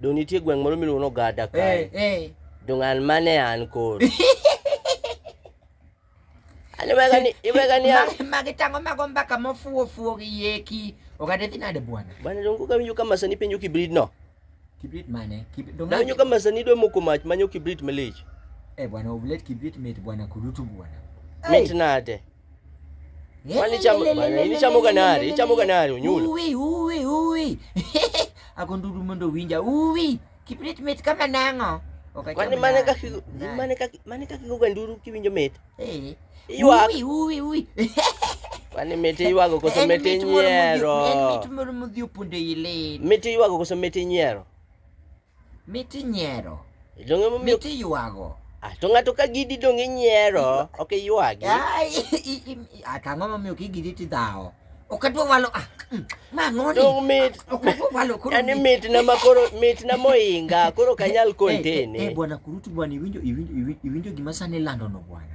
Dong nitie gweng' moro miluongo ni Ogada Eh, kae. eh. Dong an mane an koro. An iwega ni iwega ni an. Ma- Magi tango mago mbaka mofuo fuo gi yeki. Ogada dhi nade bwana? Bana dong ka winjo kama sani penjo kibrit no. Kibrit mane? Kib- dong Na winjo nade? kama sani dwe moko mach manyo kibrit malich. Eh bwana, oblet kibrit mit bwana kurutu bwana. Mit nade? Kwani chamo ni chamo kanari, chamo kanari unyulo. Uwi uwi uwi. Ako ndudu mondo winja uwi. Kiprit mit kama nango. Okay, kwani mane kaki mane kaki mane kaki goga nduru kiwinjo mit. Eh. Iwa. Uwi uwi uwi. Kwani mit iwago koso mit nyiero. En mit moro modhi opunde ile. Mit iwago koso mit nyiero. Mit inyiero. Donge momiyo Mit iywago. Ah, to ng'ato ka gidi dong inyiero, ok iywagi. Ah, i- i- i- i- ah, Tang'o momiyo kigidi tidhawo. Ok adwa walo. ah, mm, Ma ng'oni. Dong mit. Ok adwa walo koro. Yani mit- mitna ma koro mitna moinga, koro ok anyal Eh, eh, eh, contain. bwana kurutu bwana iwinjo iwinjo iwinjo- iwinjo gima sani ilandono bwana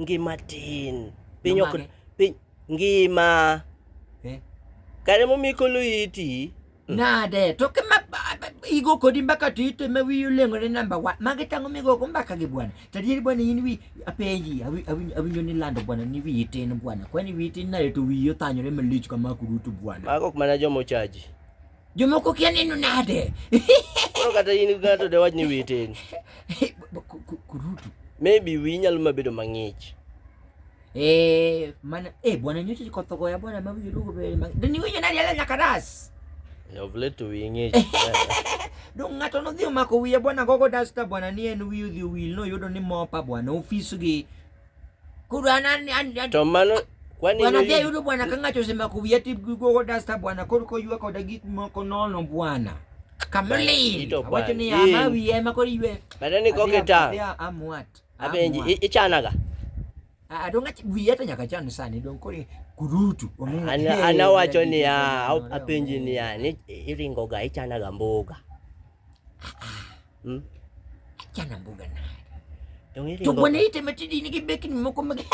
Ngima tin. Piny ok piny ngima. Eh? Kare mo mikolo iti. Mm. Nade to ke ma igo kodi mbaka to ite ma wiyo lengore namba wa magi tango migo go mbaka gi bwana to adier bwana in wi apenji awinjo ni lando bwana ni wiyi tin bwana kwani wiyi tin nade to wiyi othanyore malich kama kurutu bwana mago ok mana jomochaji Jomoko kia neno nade? Koro kata in ng'ato de wach ni witeni. Kurutu. Maybe wi nyalo mabedo mang'ich. Eh, mana eh bwana nyote liko thoko ya bwana mabu yurugo be. Deni winyo nani ala nyakaras. Of late to wi ng'ich. Dong ng'ato nodhi omako wiye bwana gogo dasta bwana ni en wiyi odhi owil no yudo ni mopa bwana ofis gi kurana to mano kwani wanadhia yudo bwana kang'ato sema kuya tigogo dasta bwana koro koywa koda gik moko nono bwana kamlil wacho ni ama wiye ema koro ywe bada ni koke ta amwat abenji ichanaga adonga wiye to nyaka chan sani dong koro kurutu anawacho niya apenji niya ni iringoga ichanaga mboga ah, ah. Hmm? Achana mbuga na. To bwana ite metidi ni kibeki ni moko mege.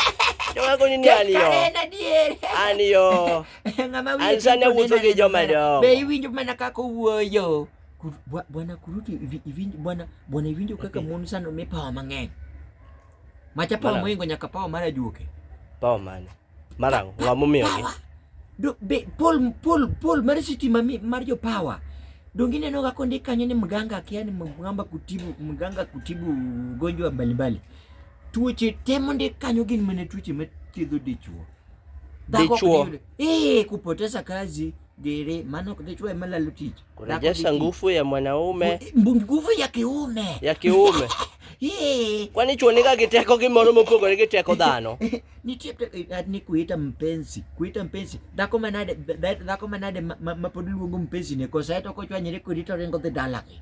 Ndio wako ni nani yo? Kana die. Ani yo. Ngama wili. Ansane wuzo ke joma do. Be iwinjo mana kako wuoyo. Bwana kuruti iwinjo bwana bwana iwinjo kaka mon sana umepawa mang'eny. Macha pawa moingo nyaka pawa mara juoke. Pawa mane? Marang, ng'a momiyogi? Power. Do, be, Paul, Paul, Paul mar siti mami, mar jo power. Dongi neno ga konde kanyo ni mganga akia ni mganga kutibu, mganga kutibu ugonjwa mbalimbali. Tuoche te monde kanyo gin mana tuoche mathiedho dichwo. Dhako ok Dichwo. diyudo- Eh, kupoteza kazi. Dere, maana ukichukua mala lutichi. Kurejesha nguvu ya mwanaume. Nguvu ya kiume. Ya kiume. Kwani chuoneka kiteko kimoro mopogore gi teko dhano? Nitie eh, ni kuita mpenzi, kuita mpenzi. Dhako manade, dhako manade mapod luongo mpenzi ne kosa eto kochwanyre kodi to ringo dhi dalagi.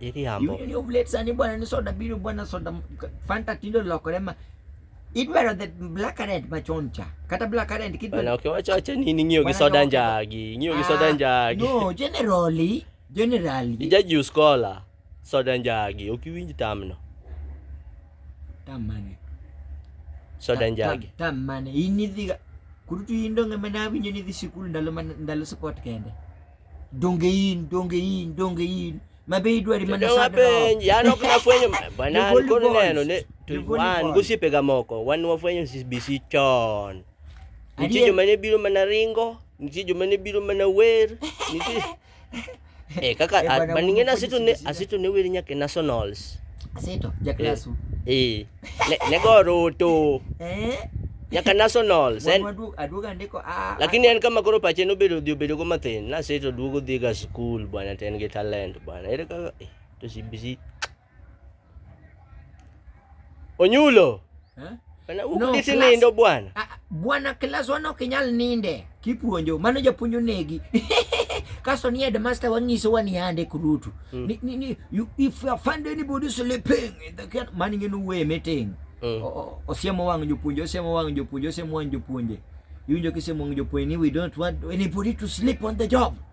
Iriambo. Yuli oblet sani bwana ni soda biro bwana soda Fanta tindo lokore ma idwaro the black currant machon cha kata black currant kidwa. Bwana ukiwacha acha nini ng'iyo gi soda njagi, ng'iyo gi soda ah, njagi. No, generally, generally. Ija juice cola, soda njagi, ukiwinj tamno. Tam mane? Soda njagi. Tam, tam mane? Inidhiga kurutu indonge mana awinjo ni dhi sikul ndalo ndalo sport kende. Donge in, donge in, donge in. Mabe idwari mana sana. Mapenj, yani ok nafwenyo bana alikuwa neno ne tuwan gosipe ga moko. Wan wafwenyo CBC chon. Nitie joma ne biro mana ringo, nitie joma ne biro mana wer, nitie Eh kaka eh, maningena asito ne asito ne wer nyaka nationals. Asito, jaklasu. Eh. eh. Ne, nego Ruto. Eh? Nyaka nationals. Wuon En, waduog- aduog andiko a- a- lakini en kama koro pache nobedo dhi obedo go mathin. Naseto duogo dhi ga school bwana to en gi talent bwana. Ere kaka eh, to CBC. Onyulo. Eh? Bwana No, uko disi class. nindo bwana. Ah, bwana kilas wan ok inyal ninde kipuonjo mano japuonj onegi kasto ni headmaster wang'iso wa ni ande kurutu mm. ni, ni, ni, you, if you find anybody sleeping in the can man ing'e nuwe meeting mm. osiemo wang' jopuonje osiemo wang' jopuonje osiemo wang' jopuonje iwinjo kisemo wang' jopuonje ni we don't want anybody to sleep on the job mm.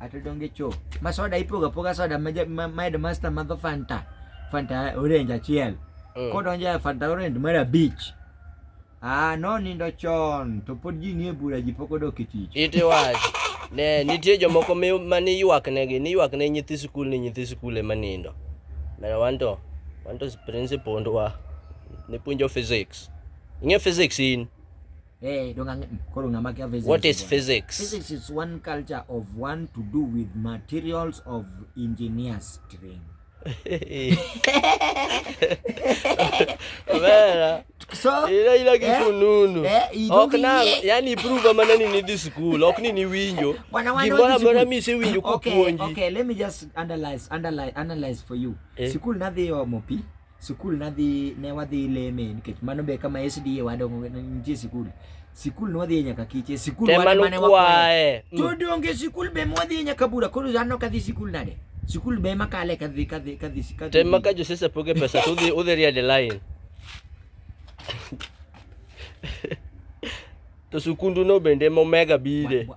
Ate donge cho. Ma soda ipoga poga soda ma ma master ma go Fanta. Fanta orange achiel. Mm. Kodonje Fanta orange mara beach. Ah, no nindo chon to pod ji nie bura ji pok odok e tich. Iti wach. Ne nitie jomoko ma ni ywak negi, ni ywak ne nyithi sikul ni nyithi sikul ema nindo. Mera wanto, wanto principal ndwa. Nipuonjo physics. Ing'e physics in? Hey, don't mm, mm, physics. What is physics? Physics is one culture of one to do with materials of engineers train. Vera. So, ila ila kifununu. Eh, eh, Okna, yani prove amana ni nidi school. Okni ni winjo. Gimora mora mi se winjo kwa kuonji. Okay, let me just analyze, analyze, analyze for you. Eh. Sikul nadhi yo mopi. Sikul nadhi ne wadhi leme nikech mano be kama SDA wadongo nitie sikul. Sikul nwadhi nyaka kiche, sikul wan mane wakwaye. Mm. To donge sikul be mwadhi nyaka bura koro anno kadhi sikul nade? Sikul be makale kadhi kadhi kadhi kadhi. Tem maka jo sesa poge pesa to udhi udhi ria de line. To sikundu no bende momega bide.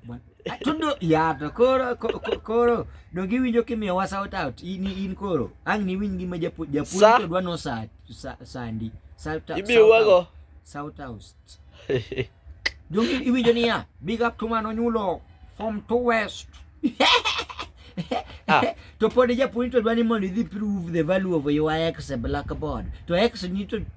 Atudo ya to koro koro donge iwinjo kimiyo wa shout out in in koro ang ni winji ma japu japu to dwa no sa sandi shout out ibiyo wago shout out donge iwinjo niya big up to man onyulo from to west ah. to pod japuonj to dwa ni mondo idhi prove the value of your ex blackboard to ex ni to